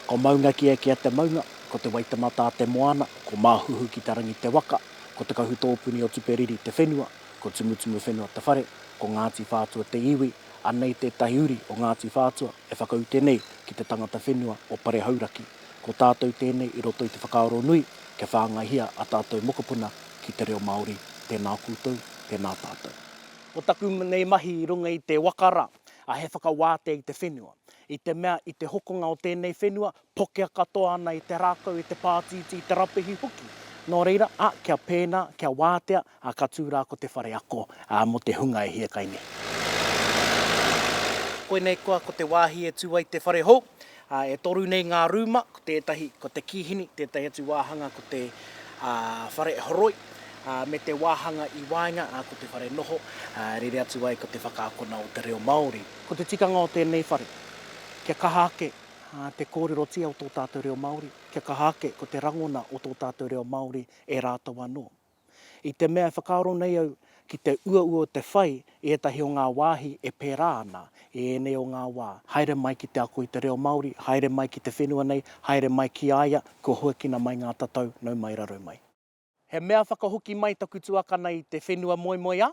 Ko Maunga Kea Kea te maunga, ko Te Waitematā te moana, ko Māhuhu ki te rangi te waka, ko Te Kahutōpuni o Tuperiri te whenua, ko Tumutumu whenua te whare, ko Ngāti Whātua te iwi, anei tētahi uri o Ngāti Whātua e whakaute nei ki te tangata whenua o Pare Hauraki. Ko tātou tēnei i roto i te whakaaro nui kia whāngaihia a tātou mokopuna ki te reo Māori. Tēnā koutou, tēnā tātou. Ko taku nei mahi i runga i te waka rā. ā, he whakawātea i te whenua, i te mea i te hokonga o tēnei whenua, pokea katoa ana i te rākau, i te pātītī, i te rapehi hoki. Nō reira, ā, kia pēnā, kia wātea, ā, ka tū rā ko te whare ako, ā, mō te hunga e hia kai nei. Koinei koa ko te wāhi e tū ai te whare hou, Ā, e toru nei ngā rūma, ko tētahi ko te kīhini, tētahi atu wāhanga ko te whare horoi, ā, me te wāhanga i waenga, ā, ko te whare noho, ā, rere atu ai ko te whakaakona o te reo Māori. Ko te tikanga o tēnei whare, kia kaha ake te kōrerotia o tō tātou reo Māori, kia kaha ake ko te rangona o tō tātou reo Māori e rātou anō. I te mea e whakaaro nei au ki te uaua o te whai i ētahi o ngā wāhi e pērā ana i ēnei o ngā wā. Haere mai ki te ako i te reo Māori, haere mai ki te whenua nei, haere mai ki a ia, kua hoekina mai ngā tatau, nau mai raro mai. He mea whakahoki mai taku tuakana i te whenua moemoeā.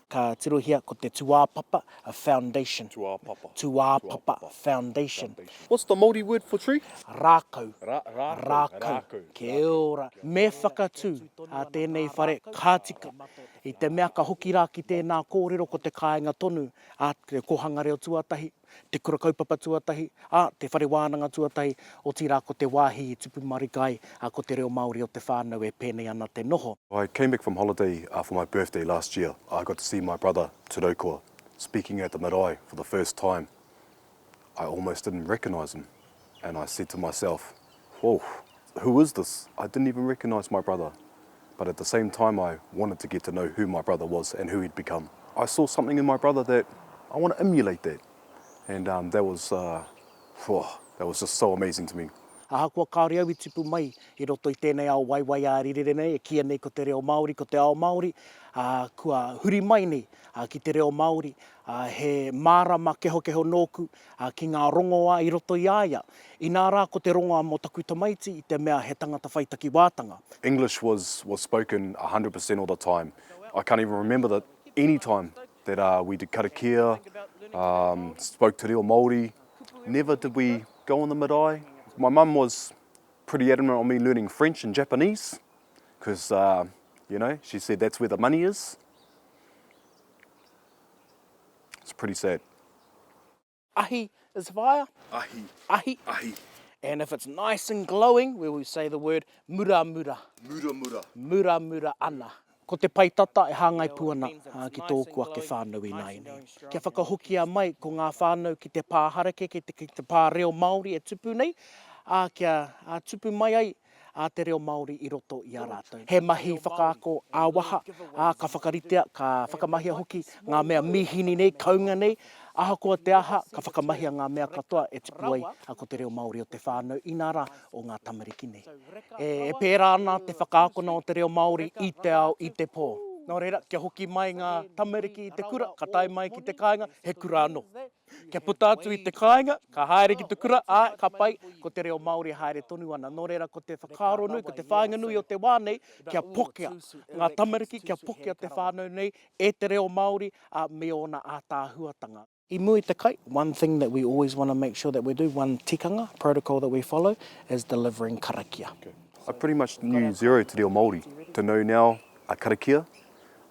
Ka tirohia ko te tūāpapa, a foundation. Tūāpapa. Tūāpapa, foundation. What's the Māori word for tree? Rākau. Rākau. Kia ora. Me whakatū a tēnei whare ka tika. I te mea ka hoki rā ki tēnā kōrero ko te kāinga tonu a Te Kōhanga Reo Tuatahi. te kura kaupapa tuatahi, ā, te whare wānanga tuatahi, otirā ko te wāhi i tupu marika ai, ā, ko te reo Māori o te whānau e pēnei ana te noho. I came back from holiday for my birthday last year, I got to see my brother Te Raukoa speaking at the marae for the first time, I almost didn't recognise him. And I said to myself, Whoof, who is this? I didn't even recognise my brother, but at the same time I wanted to get to know who my brother was and who he'd become. I saw something in my brother that I want to emulate that, and um, that was, uh, whoa, that was just so amazing to me. Ahakoa kāore au i tipu mai i roto i tēnei ao waiwai ā-rirere nei e kīia nei ko te reo Māori, ko te ao Māori, ā, kua huri mai nei ki te reo Māori, ā, he mārama kehokeho nōku ā, ki ngā rongoā i roto i a ia, inā rā ko te rongoā mō taku tamaiti i te mea he tangata whai takiwātanga. English was was spoken a hundred per cent of the time. I can't even remember the any time that uh we did karakia, um spoke te reo Māori. Never did we go on the marae. My mum was pretty adamant on me learning French and Japanese because uh you know she said that's where the money is. It's pretty sad. Ahi is fire. Ahi. Ahi. Ahi. And if it's nice and glowing, we will say the word muramura. Muramura. Muramura ana. Ko te pae tata e hāngai pū ana ki tōku ake whānau ināianei. Kia whakahokia mai ko ngā whānau ki te pā harakeke, ki te pā reo Māori e tupu nei, ā, kia tupu mai ai a te reo Māori i roto i a rātou. He mahi whakaako ā-waha, ā, ka whakaritea, ka whakamahia hoki ngā mea mīhini nei, kounga nei, ahakoa te aha, ka whakamahia ngā mea katoa e tipu ai ko te reo Māori o te whānau, inā rā, o ngā tamariki nei. E pērā ana te whakaakona o te reo Māori i te ao, i te pō. Nō reira, kia hoki mai ngā tamariki i te kura, ka tae mai ki te kāinga, he kura anō. Kia puta atu i te kāinga, ka haere ki te kura, ā, ka pai, ko te reo Māori e haere tonu ana. Nō reira, ko te whakaaro nui, ko te whāinga nui o te wā nei, kia pokea ngā tamariki, kia pokea te whānau nei e te reo Māori, ā, me ōna ātaahuatanga. I mua i te kai, one thing that we always want to make sure that we do, one tikanga, protocol that we follow, is delivering karakia. I pretty much knew zero te reo Māori. To know now a karakia,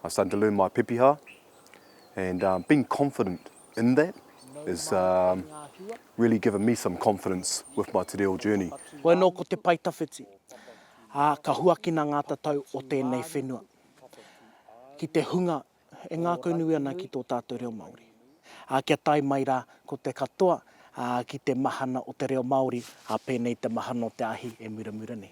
I started to learn my pepeha, and being confident in that is really given me some confidence with my te reo journey. Koe no ko te pae tawhiti, a ka huakina nga tatau o tenei whenua ki te hunga e ngakau nui ana ki to tatou reo Maori, a kia tae mai ra ko te katoa ki te mahana o te reo Maori, a penei te mahana o te ahi e muramura nei.